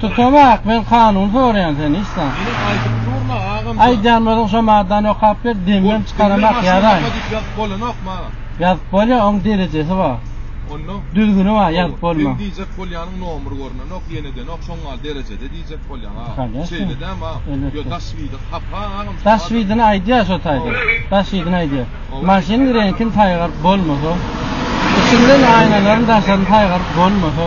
Tutabak men kanun soryan sen islam. Ine aytyp durma agam. Aýdýan bolsaň şo maddany okap ber demem çykaramak ýaraýyn. Maşynda diýip ýazyp bolanokmy aga. Ýazyp bolýa oň derejesi bar. Onda? Düzgüni bar ýazyp bolma. Sen diýjek bolýanyň nomer görnenok ýenedenok şoň gal derejede diýjek bolýaň aga. Şeýle dämi aga. Ýo daş widin hapa agam. Daş widini aýdýa şo taýda. Daş widini aýdýa. Maşynyň reňkini saýgaryp bolmasa. Içinden aýnalaryny daşaryny saýgaryp bolmasa.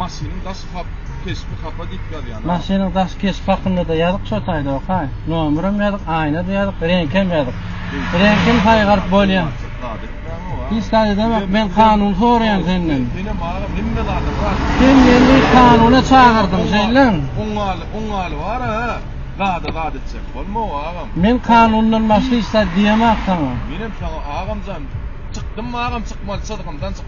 Maşynyň daş hap keşbi hapa diýip ýazýan. Maşynyň daş keşbi hakynda-da ýazyk şo taýda okaý. Nomerem ýazyk, aýna-da ýazyk, reňkem ýazyk. Reňkem saýgaryp bolýa. Zat etmäň owa. Hiç zat edemek, men kanun soraýan senden. Senem agam hemme zada bar. Sen meni kanuna çagyrdyň şeýlem. Oňňaly, oňňaly bar-a, zada zat etjek bolma owa agam. Men kanundan başga hiç zat diýemak saňa. Menem saňa agamjan, çykdym agam çykmaly çyzgymdan çykdym.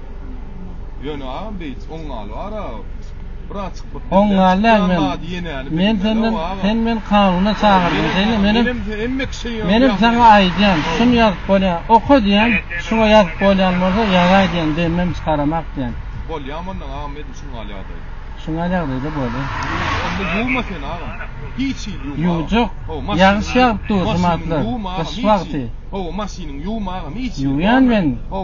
Ýöne agam beýts oň galy bar a bir açyk bir Oň galy däl men. Men senden sen men kanuna çagyrdyň şeýle menem hemme kişi menem saňa aýdýan şun ýazyp bolýa oka diýen şuňa ýazyp bolýan bolsa ýazaý diýen demem çykaramak diýen. Bolýa mundan agam edil şun galy ýagdaý. Şun galy ýagdaýda bolýa. Onda ýuwma sen agam. Hiç hil ýuwma. Ýuwjak. Ýagyş ýagyp dur şu matlar. Gyş wagty. Ho maşynyň ýuwma agam hiç. Ýuwýan men. Ho.